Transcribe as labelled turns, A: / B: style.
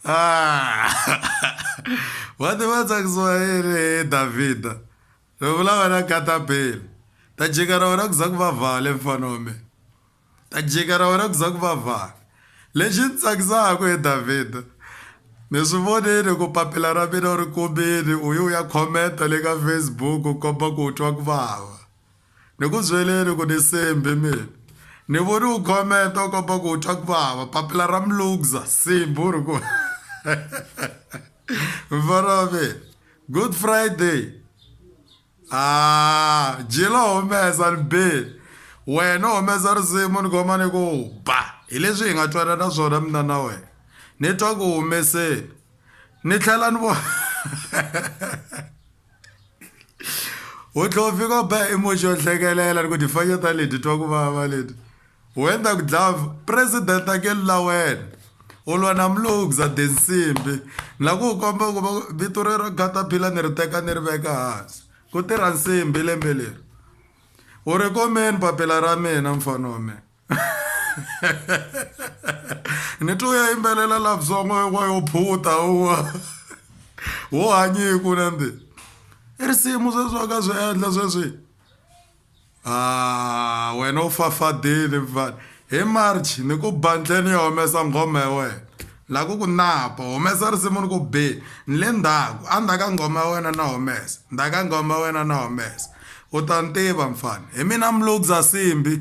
A: Ah. vati va tsakisiwa hi ri davhida ri vulavula na katapele ta jika ra wena ku za ku va vhale mfana wa mina ta jika ra wena ku za ku va vhale lexi ni tsakisaka hi davhida mi swi vonile ku papila ra mina u ri kumile u ye u ya khomenta le ka facebook u komba ku u twa ku vava Ni ku byeleni ku ni Simbi mina ni voni u khomenta u komba ku u twa ku vava papila ra mulugza Simbi u ri ku mfana wa mina good friday a jilo humesa ni bini wena u humesa risimu ni khoma ni ku ba hi leswi hi nga twanana swona mina na wena ni twa ku humeseni ni tlhela ni vona wo dlove ko ba emoji yo hlekelela ni ku tifanya ta leti twa ku vava leti wena ku dlove president akeli la wena u lwa na mulugza densimbi ni la ku u komba ku va vito rero gataphila ni ri teka ni ri veka hansi ku tirha nsimbi lembe leri u ri komeni papila ra mina mfana wa mina ni twi u ya yimbelela latsongo wa yo phuta uwa wo hanyiku nandi i risimu sweswi wa ka swi endla sweswi a ah, wena u fafadile mfana hi march ni ku bandleni ya humesa nghoma ya wena La ku ku napa, Humesa risimu ni ku bi, Ni le ndzhaku, a ndzhaka nghoma ya wena na humesa, ndzhaka nghoma ya wena na humesa, U ta ni tiva mfana, hi mina Mlugza Simbi.